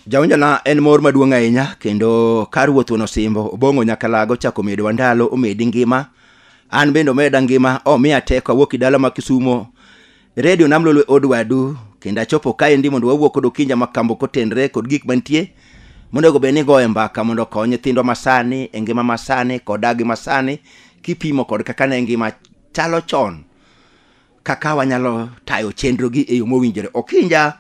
jaonjana en mor maduong' ahinya kendo kar wuoth wuon osimbo obong'o nyaka lago chako medowa ndalo omedi ngima an bende omeda ngima omiya teko awuok i dala ma kisumo redio nam lolwe od wadu kendo achopo kaendi mondo wawuo kod okinja ma kambo kotenre kod gik mantie monego bed ni goye mbaka mondo okony nyithindwa masani e ngima masani kod dagi masani kipimo kod kaka ne ngima chalo chon kaka wanyalo tayo chenrogi e yo mowinjore okinja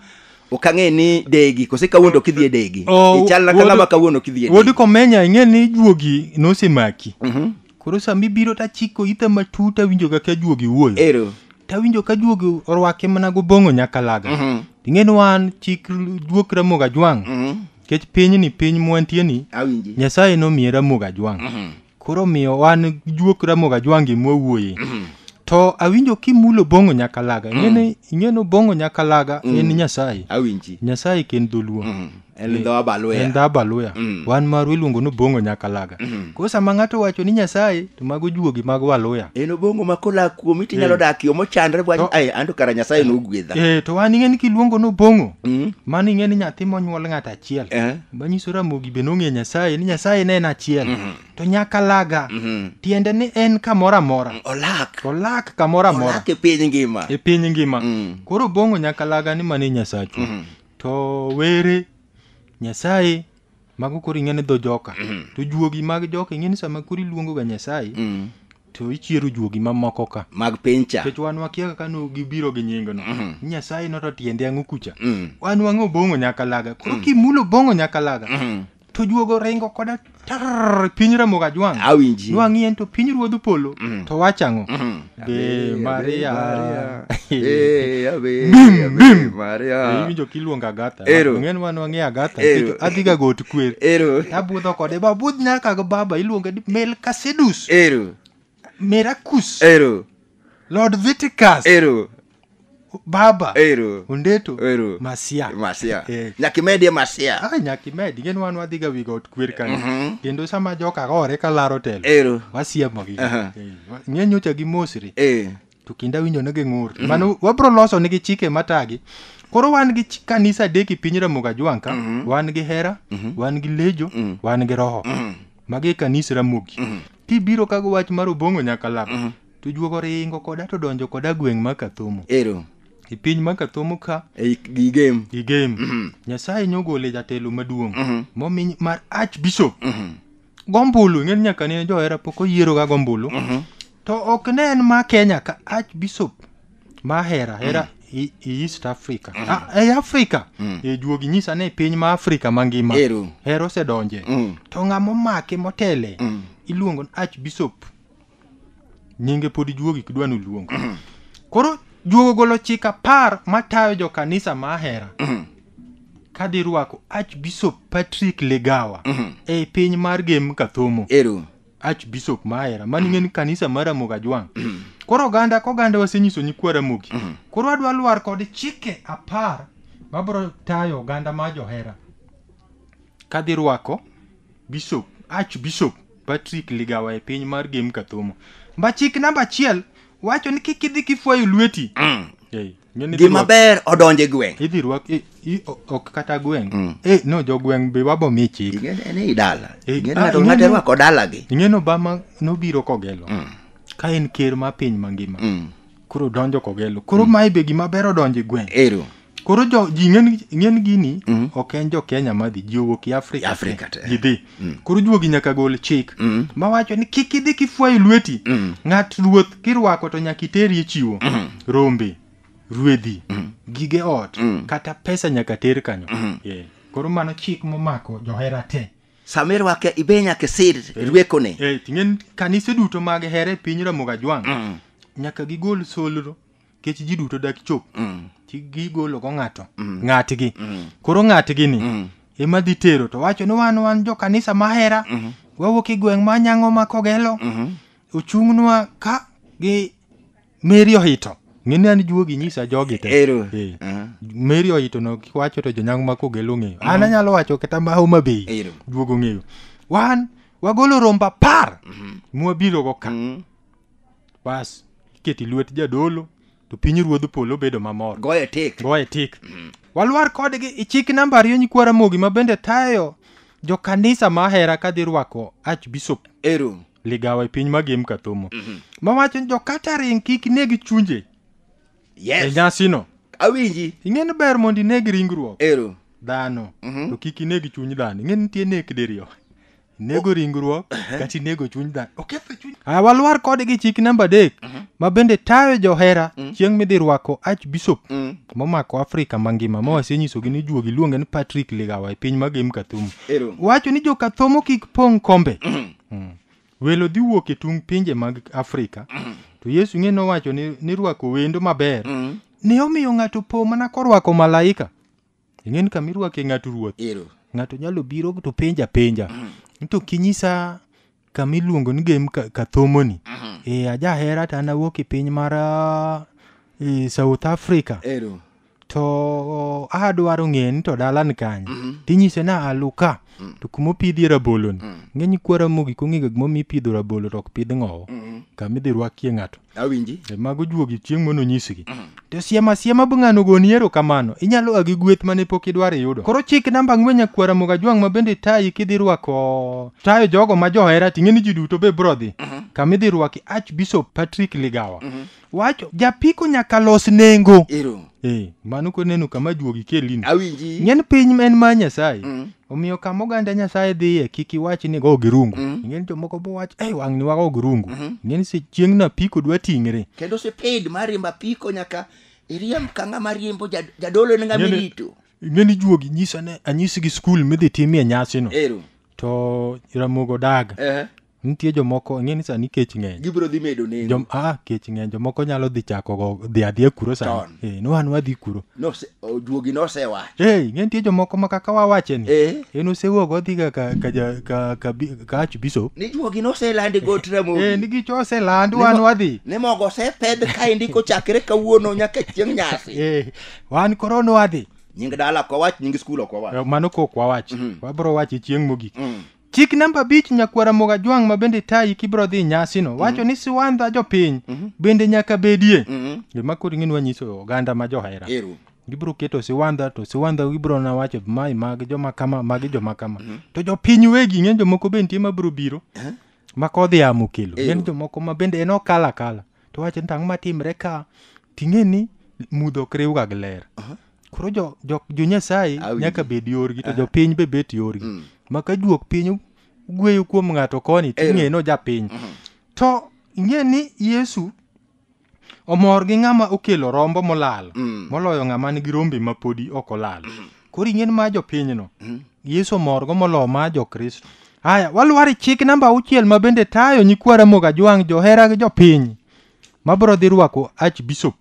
ok ang'e ni degi kose kawuono ok idhi e degi Oh, ichal na wuod- kang'ama kawuono ok idhi e degi wuod komenya ing'e ni juogi nosemaki Mhm. Koro sama ibiro to achiko itha matut awinjo ga ka juogi wuoyo. Ero. To awinjo ka juogi orwake mana gobong'o nyakalaga. Mhm. Ing'e ni wan chik juok Ramogi Ajwang'. Mhm. Nikech pinyni piny mwantie ni Awinji. Nyasaye nomiye Ramogi Ajwang'. Mhm. Koro omiyo wan juok Ramogi Ajwang' gi mwawuoye. Mhm. To awinjo kimulo bong'o nyakalaga. Ing'e ni ing'e ni bong'o nyakalaga en Nyasaye. Awinji. Nyasaye ken dholuo. Mhm. En dho Abaluya. en dho abaluya Mm. wan marwa iluongo ni bongo nyakalaga Mm. koro sama ng'ato wacho ni nyasaye to mago juogi mag waluya en obongo ma kolak kuomi tinyalo dak yo mochandre bwacho To- ai anto kara nyasaye nogwedha eh to wan ing'e ni kiluongo ni bongo Mm. mano ing'e ni nyathi monyuol ng'ato achiel Eh. manyiso ramogi be nong'e nyasaye ni nyasaye ne en achiel to nyakalaga Mhm. tiende ni en kamoro amora olak olak kamoro amora olak e piny ngima e piny ngima Mm. koro bongo nyakalaga ni mane nyasachwa Mhm. To were Nyasaye mago koro ing'e ni dho joka. To juogi mag joka ing'e ni sama koro iluongo ga Nyasaye Mm. to ichiero juogi mamoko ka. mag piny cha Nikech wan wakia kaka no gibiro gi nying no. Nyasaye no to tiende ang'o kucha. Mm. Wan wang'o bongo nyakalaga. Koro kimulo bongo nyakalaga Mm. to juogo ringo koda tar piny ramogi ajwang' awinji nwang'i en to piny ruodh polo to wach ang'o be maria Eh, abe, Bim, abe, bim. Maria. iwinjo kiluongo agatha Ero. ng'en ma nwang'e agatha Ero. nikech adhiga got kwer Ero. abudho kode babudh nyaka gi baba iluonge ni melkasedus Ero. mirakus Ero. lord viticus Ero. baba Ero. ondeto Ero. masia Masia. Eh. Nyakimedie masia. Ah, nyakimedi gin wan wadhiga wi got kwer kanyo kendo sama joka gore ka laro telo Ero. wasiemogi Aha. ng'e nyocha gi mosri Eh. to kinda winjo ne ging'ur mano wabro loso nigi chike matagi koro wan gi chi- kanisa adek e piny ramoga jwang' ka wan gi hera wan gi lejo wan gi roho magi e kanisa ramogi kibiro kago wach mar obong'o nyaka lak To juogo ringo koda to donjo koda gweng' ma Kathomo. Ero. E piny ma Kathomo ka. E gi game. Gi game. Mm -hmm. Nyasaye nyogole jatelo maduong'. Mm -hmm. Momi mar Archbishop. Mm -hmm. Gombulu, ng'en nyaka ne johera pok oyiero ga gombulu. Mm -hmm. To ok ne en ma Kenya ka Archbishop ma hera hera mm -hmm. E, e East Africa. Mm. Ah, e Africa. Mm. E juogi nyisa ne piny ma Africa mangima. Hero osedonje. Mm. To ng'amo make motele. Mm. Iluongo Archbishop. nyinge pod ijuogi kidwa ni oluong koro juogo ogolo chik apar matayo jo kanisa ma ahera ka dhi rwako archbishop patrick legawa e piny mar gem kathomo ero archbishop ma ahera mani ng'en kanisa mar ramogi ajwang' koro oganda ka oganda wasenyiso nyikwa ramogi koro adwa lwar kod chike apar mabro tayo oganda ma johera ka dhi rwako Bishop, Archbishop Patrick Ligawa e piny mar Gem Kathomo. Mba chik namba achiel wacho ni kik idhi kifwayo lweti. Ei, ng'e ni idhi gima rwak- ber odonje gweng Idhi rwak i- i- o- ok kata gweng'. Eh, no jogweng' be wabo mi chik. Ing'eni en ei dala Eh, Ing'eni ah, ng'ato ng'ato ing'eni- rwako dalagi Ing'e ni Obama nobiro kogelo. Ka en ker mar piny mangima. Mm. koro donjo kogelo koro mm. mae be gima ber odonjo e gweng ero koro jo ji ng'en gini mm. ok en jo kenya madhi ji owuok i afrika afrika te ji dhi mm. koro juogi nyaka gol chik mm. mawacho ni kik idhi kifwayo lweti mm. ng'at ruoth kirwako to nyaka iterie chiwo mm. rombe ruedhi mm. gige ot mm. kata pesa nyaka ter kanyo mm. yeah. koro mano chik momako johera te sama irwake ibe nyaka isir rwekone Eh, ting'en kanise duto mag here e piny ramoga jwang Mm. nyaka gigol solro kech ji duto dak chop Mm. Ti- gigolo go ng'ato ng'atgi koro ng'atgi ni Mm. ema dhi tero to wacho ni wan wan jo kanisa mahera Mhm. wawuok e gweng' ma nyango ma kogelo Mhm. ochung'nwa ka gi Meri ohito. Ng'eni an juogi nyisa jogi te. Ero. Eh. Ah. Meri ohito no kiwacho to jonyango ma kogelo ng'eyo. An anyalo wacho kata ma Homa Bay. Ero. Juogo ng'eyo. Wan wagolo romba par mwabiro go ka. Mm. Bas iketi lwet jadolo to piny ruodh polo bedo mamor. Goye tik. Goye tik. Walwar kodgi ichik namba ariyo nyikwara mogi ma bende tayo jo kanisa ma ahera ka dhi rwako archbishop ero ligawa e piny magem kathomo Mhm. mawacho ni jokata ring kik neg chunje e yes nyasino awinji ing'e ni ber mondo ineg ringruok ero dhano Mhm. to kik ineg chuny dhano ing'e ni nitie nek diriyo inego ringruok kata inego chuny dhano oketho chuny Ah, walwar kodgi chik namba adek ma bende tayo johera chieng' midhi rwako archbishop Mm. momako Afrika mangima ma wasenyisogi ni juogi luonge ni Patrick Ligawa e piny ma Gem Kathumu. Ero. Wacho ni jokathomo kik pong' kombe. Mm. Welo dhi wuok e tung' pinje mag Afrika. To Yesu ng'e nowacho ni, ni rwako wendo maber. Ne omiyo ng'ato po mana korwako malaika. Ing'e ni kama irwake ng'ato ruoth. Ero. Ng'ato nyalo biro to penja penja. To kinyisa kama iluongo ni game Ka- kathomoni e, ajahera to an awuok e piny mar ah, e, south africa ero to adwaro ng'eyo ni to dalani kanye tinyise na aluka to kuma opidhie raboloni ng'eny kwa ramogi kong'ega gimomiyo ipidho rabolo to ok pidh ng'owo kama idhi rwakie ng'ato awinji E, mago juogi chieng' mono nyisgi to siema siema be ng'ano goni erokamano inyalo a gi gweth mane pok idwaro iyudo koro chik namba ang'wen nyakwara moga jwang' ma bende tayi kidhi rwako tayo jogo ma johera ting'e ni ji duto be bro dhi kama idhi rwaki archbishop patrick ligawa wacho japiko nyaka los nengo ero Eh, mano koneno kama juogi kelino. Awinji. Ng'en piny en ma Nyasaye. Mm. Omiyo kama oganda Nyasaye dhiye kik iwach ni go girungu. Mm. Ng'en jomoko bo wach, "Eh, wang'ni wago girungu." Mhm. Ng'en se chieng' na piko dwa ting're. Kendo sipid mar riembo apiko nyaka iriemb ka ng'ama riembo jad- jadolo ne ng'ama Ng'eni- irito. Ng'en ijuogi nyisa ne anyisi gi skul midhi timie nyasino. Ero. To Ramogo daga. Eh. nitie jomoko ing'e ni sani kech ng'eny gibiro dhi medo nengo Jom, ah, kech ng'eny jomoko nyalo dhi chako go dhi adhiya kuro Ton. sani eh, no an wadhi kuro Nose- o, juogi nosewacho eh, ing'e nitie jomoko ma kaka wawache ni Eh. en osewuok odhiga ka, ka, ja- ka, ka, bi- ka archbishop ni juogi noselandi got eh, ramogi ni gicho oseland Ni wan mo- wadhi ni mogo osepedh kaendi kochakre kawuono nyaka chieng' nyasi eh, wan koro no wadhi nying dala ok wawach nying skul ok wawach Eh, mano kok wawach wabro wache chieng' mogik Mm. Chik namba abich nyakwara Mogajwang' ma bende tayi kibro dhi nyasino wacho ni siwandha jopiny bende nyaka bedie. Mhm. Gima koro ing'e ni wanyiso oganda ma johera. Ero. Gibro keto siwandha to siwandha gibro na wacho mai magi joma kama magi joma kama. To jopiny wegi ng'e jomoko be nitie ma bro biro. Ma kodhi amo kelo. Ng'e ni Eyo. jomoko ma bende en okala kala. To wacho ni tang' ma timre ka ting'e ni mudho ok riwga gi ler koro jo, jo, jo nyasaye Awinji. nyaka bed yorgi to jopiny be bet yorgi Mm. ma ka juok piny gweyo kuom ng'ato koni to Ero. ing'e no japiny to ing'e ni yesu omor gi ng'ama okelo rombo molal Mm. moloyo ng'ama nigi rombe ma podi ok olal koro ing'e ni ma jopinyno yesu omorgo moloyo ma jokristo haya walwar e chik namba auchiel ma bende tayo nyikwa ramoga jwang' johera gi jopiny ma bro dhi rwako Archbishop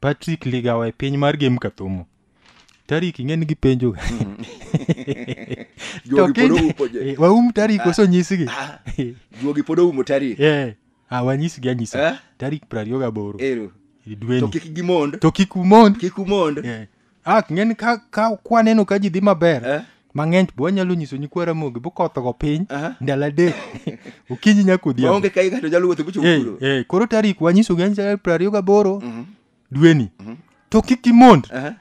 Patrick Ligawa e piny mar Gem Kathomo. Tarik ing'e ni gipenjo ga. To Jogi pod kiny- oupo je. eh, waum tarik oso nyisgi. Ah, Juogi pod oumo tarik. Eh, ah, wanyisgi anyisa. Eh? Tarik prariyo gaboro. Ero. e To dweni kik gimond. to kik umond Kik umond. Eh, ah ng'eni ka ka kwaneno ka ji dhi maber Eh. mang'eny bo wanyalo nyiso nyikwa ramogi bokothogo piny Aha. ndalo adek okinyi nyaka odhiambo maonge ka igato nyalo wuotho bucho Eh, kuro eh, koro tarik wanyisogi anyisa piero ariyo gaboro dweni to kik imond Aha.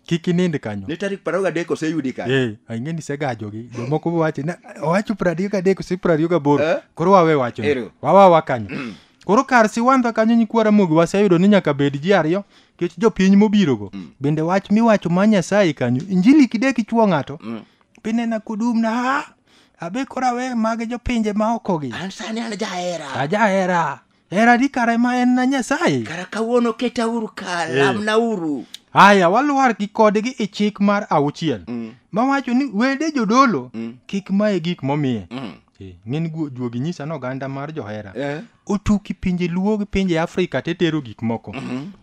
kik inind kanyo ni tarik piero gadek oseyudi kanyo Eh, ang'e ni segajogi jomoko wache na owacho piero ariyo gadek ose piero ariyo gaboro Eh? koro wawe wacho Ero. wawawa kanyo koro kar siwandha kanyo nyikwa ramogi waseyudo ni nyaka bed ji ariyo kech jopiny mobirogo Mm. bende wach miwacho ma nyasaye kanyo injili kidek ichuo ng'ato Mm. pinena kudum na ha abe kora we mage jopinje ma okogi an sani an jahera ajahera hera di kare ma en na nyasaye kara kawuono ketauru ka lamnauru aya walwar gi kodgi e chik mar auchiel Mm. mawacho ni wede jodolo Mm. kik maye gik momiye Mm. Eh, ng'eni guo- juogi nyisa ni oganda mar johera Eh. otuki pinje luo gi pinje afrika te tero gik moko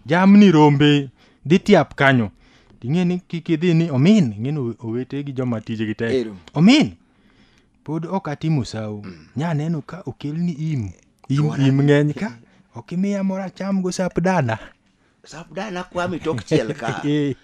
jamni rombe dhi tiap kanyo ting'e ni kik idhi ni omin ing'eni owe- owete gi joma tijegi tek Ero. omin pod ok atimo sawo nya neno ka okelni im im, im ng'eny ka ok imiya moro acham go sap dana Sabda nakwami tok chiel ka. Eh,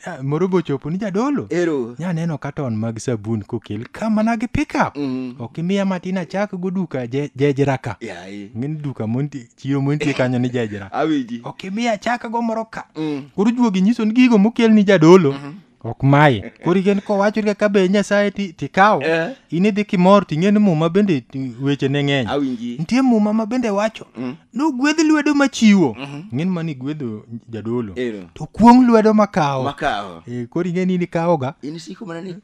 ah, moro bochopo ni jadolo Ero. nyaneno katon mag sabun kokel ka mana gi pickup Mm. ok imiya matin achak go duka je- jejra ka Yaye. ng'eni duka monti- chiro montie kanyo ni jejra Awiji. ok imiya achak go moro ka Mm. koro juogi nyiso ni gigo mokel ni jadolo ok maye koro igen kowachori kaka be nyasaye ti- tikawo Eh. in idhi kimor ting'e ni muma bende ti- weche ne ng'eny Awinji. nitie muma ma bende wacho nogwedh lwedo machiwo ng'en ma nigwedho jadolo Ero. to kuong' lwedo makawo Makawo. Eh, koro ing'e ni nikawoga In siko mana ni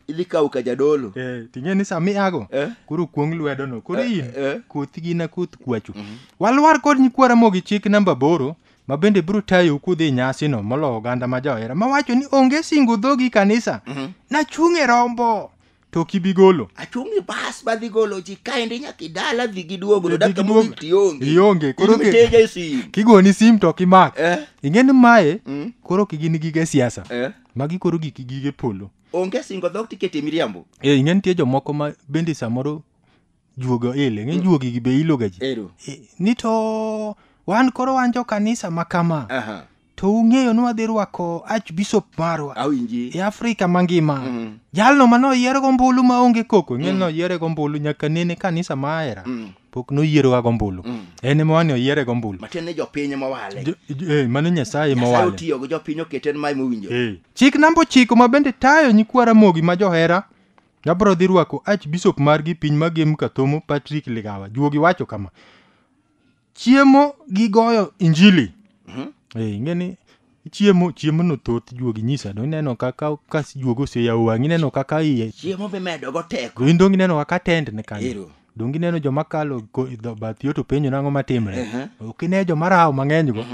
idhi kawo ka jadolo. Eh, ting'e ni sama iago Eh. koro kuong' lwedono koro Eh, in eh. koth gina koth kwachu walwar kod nyikwara mogi chik namba boro ma bende biro tayou kudhi e nyasino molo oganda ma johera mawacho ni onge singo dhogi kanisa Mhm. nachung' e rombo to ok ibi golo achung' e bas ma dhi golo ji kaendi nyaka idala dhi giduogo Dhi dakika giduogo. mogik tionge Ionge, koro Idhi ke- miteja e sim kigoni sim to ok imak Eh, ing'e ni mae mm, koro ok gin gige siasa eh. magi koro gik gige polo onge singo dhok tikete miriambo e ing'e nitie jomoko ma bende samoro juogo ile ng'e juogi gi be iloga ji Ero. E, ni to wan koro wan jo kanisa ma kama Aha. to ung'eyo ni wadhi rwako archbishop marwa Awinji. e afrika mangima Mm. jalno ma noyier gombulu ma onge koko ng'e noyiere gombulu nyaka nene kanisa ma ahera Mm. pok noyieroga gombulu Mm. en ema wani oyiere gombulu Matiende ni jopiny ema wale. Jo- jo- eh, mano nyasaye Nyasaye mowale otiyogo jopiny okete en ma ema owinjo. Eh. chik namba ochiko ma bende tayo nyikwa ramogi ma johera Abro dhi rwako Archbishop margi piny magem Kathomo Patrick Ligawa. Juogi wacho kama. Chiemo gi goyo injili. Eh, ingeni chiemo chiemo no thoth juogi nyisa do ineno kaka ka juogi oseyawo wang'i ineno kaka iye chiemo mimedo go teko do in donge ineno kaka tend ne kanyo Ero. donge ineno joma kalo ko- e dho- bath yo to penjo nang'o matimre Ehe. ok ine joma rawo mang'eny go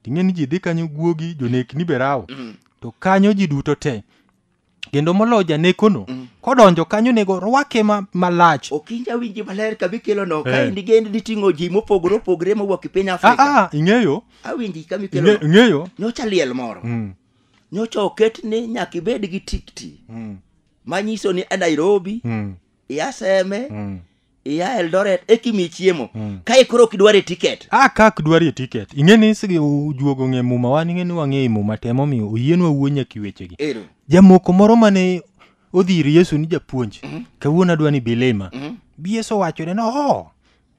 ting'e ni ji dhi kanyo guogi jonekni be rawo to kanyo ji duto te kendo molo janekono Mm. kodonjo kanyo nego orwake ma- malach ok inja winji maler ka bikelo no ka Eh. in digend diting'o ji mopogore opogore mowuok e piny afrika aa ing'eyo awinji ka mikelo ing'e- no ing'eyo nyocha liel moro Mm, nyocha oket ni nyaka ibed gi tikti mm, manyiso ni a nairobi mm, i aseme mm, iya eldoret ekimi chiemo Mm. kae koro ok idware tiket a kak dwarie tiket ing'e ni sigi ujuogo ng'e muma wan ing'e ni wang'e i muma te momiyo oyienwa wuo nyaka i wechegi ero jamoko moro mane odhi ir yesu ni japuonj kawuono adwa ni bilima bi yesu owachone ni oho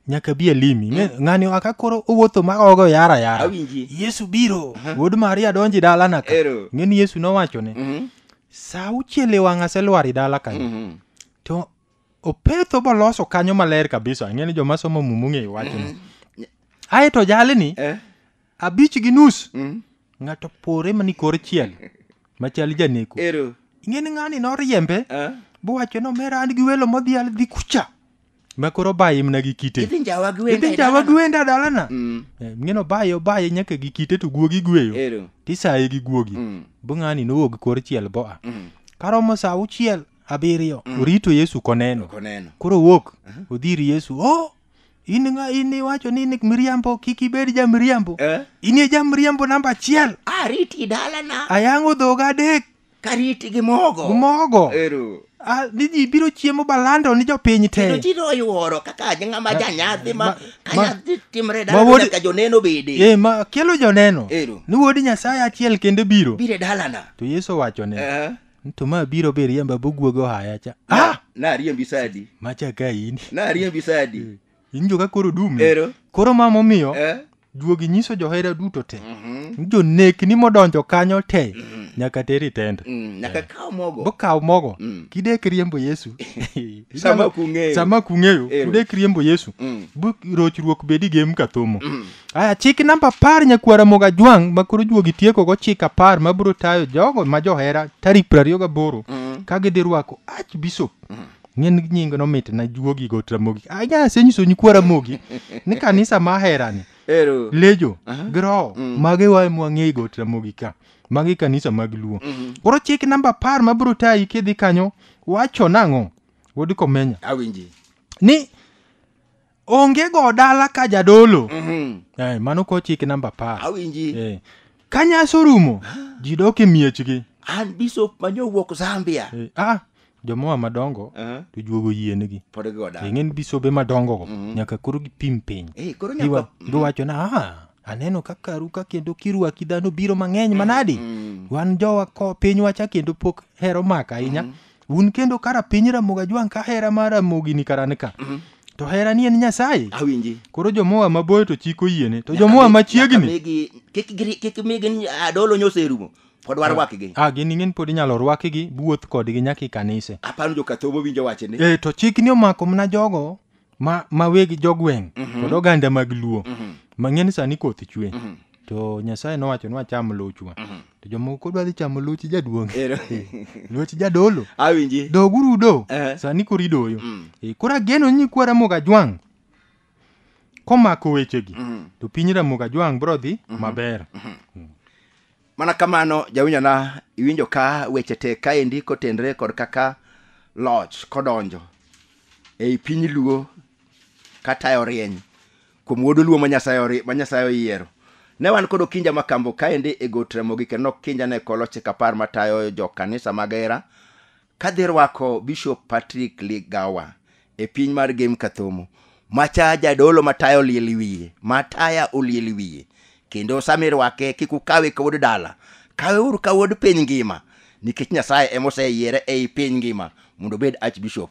nyaka bi alimi Ing'e- ng'ani aka koro owuotho ma ogo yara yara Awinji. yesu biro wuod maria donji dalana ka Ero. ing'e ni yesu nowachone Mhm. sa auchiel e wang' aselwar i dala kanyo Mhm. to opetho boloso kanyo maler kabisa ang'e ni joma somo mumu ng'eyo wachni ae to jalni Eh? abich gi nus Mm. ng'ato pore mani kor chiel machal janeko Ero. ing'e ni ng'ani noriembe Ah. bowacho nomera an gi welo modhial dhi kucha ma koro baye mna gi kite Idhi njawa gi wenda. idhi jawa gi wenda dalana Mm. Eh, ing'e no baye obaye nyaka gi kite to guogi gweyo Ero. tisaye gi guogi Mm. bo ng'ani nowuog kor chiel boa Mm. karomo sa auchiel abiriyo Mm. orito yesu koneno Ok oneno. koro owuok Mhm. odhi ir yesu o in ng'a in iwacho ni ni miriambo kik ibed ja miriambo Eh? in e ja miriambo namba achiel Ariti dalana. ayang'o dhoga adek Kariti gi mogo. mogo Ero. Ah, ni ji biro chiemo balando ni jopiny Kendo te ji noyuoro kaka ng'ama janyadhi ma ma- ka ma- nyadhi timre ma dala wuod- nyaka joneno bede. e ma kelo joneno Ero. ni wuod nyasaye achiel kende biro Bire dalana. to yesu owachone Eh? to ma biro be riemba boguogo ohaya cha ah! nariembi sadi macha ka in nariembi sadi injo ka koro dumi ero koro ma momiyo eh? juogi nyiso johera duto te Mhm. jonekni modonjo kanyo te Mhm. nyaka teri tenda Mm, nyaka kaw mogo bokaw mogo Mm. kidek riembo yesu sama kung'eyo sama kung'eyo Ero. kudek riembo yesu Mm, bu rochruok bedi gem kathomo mm. Aya, chik namba apar nyakuo Ramogi Ajwang' ma koro juogi tieko go chik apar ma biro tayo jogo ma johera tarik piero ariyo gaboro ka gidhi rwako Archbishop ng'en nying no mit na juogi go Ramogi. Aya, asenyiso nyikwa Ramogi ni kanisa ma aherani Ero. lejo gi roho mage wae mwang'eyi go Ramogi ka magi kanisa mag luo koro chik namba apar ma biro tayi kidhi kanyo wacho nang'o wuod komenya Awinji. ni onge go dala ka jadolo Mhm. eh, mano ko chik namba par Awinji. eh, ka nyasi orumo ji dok e miechgi An bishop ma nyowuok Zambia. eh, ah, jomoa madongo Uh-huh. to juogo yienegi Pod gigo dala. ing'eni bisobe madongogo nyaka koro gipim piny Eh, koro Giwa- nyaka giwacho na "Ah, aneno ka karu ka kendo kirwaki dhano biro mang'eny manadi wan jowa ko pinywacha kendo pok hero maka ahinya un kendo ka rapiny ramoga jwang' ka hera mar ramogi ni karan ka to hera ni en nyasaye awinji koro jomoa maboyo to chiko yiene to Nyaka jomoa mi- machiegni nyaka migi- kik giri- kik migi adolo nyoserumo pod warwakgi a gin ing'en pod inyalo rwakigi buoth kodgi nyaka i kanise aparo jokathobo winjo wachni e to chikni omako mana jogo ma, ma weg jogweng' Mhm. kod oganda mag luo Mhm. mang'e ni sani koth chwe Mhm. to nyasaye nowacho ni wacham luchwa Mhm. to jomoko dwa dhi chamo luch jaduong' Ero. luch jadolo Awinji. doguru udo Eh. sani koro idoyo Mm. Eh, koro ageno ni nyikwa ramoga jwang' komako wechegi Mhm. to piny ramoga jwang' bro dhi maber mana kamano jawinjona iwinjo ka weche tek kaendi kotenre kod kaka loch kodonjo ei piny luo katayo rieny kuom wuod luo ma nyasaye ori- ma Nyasaye oyiero ne wan kod okinja makambo kaendi e got ramogi kendo okinja ne koloche kapar matayo jo kanisa mag hera Kadhi rwako Bishop Patrick Ligawa e piny mar Gem Kathomo, macha jadolo mataya oliel wiye, mataya oliel wiye. Kendo sama irwake kik ukawe ka wuod dala, kawe uru ka wuod piny ngima nikech Nyasaye ema oseyiere ei piny ngima mondo obed Archbishop.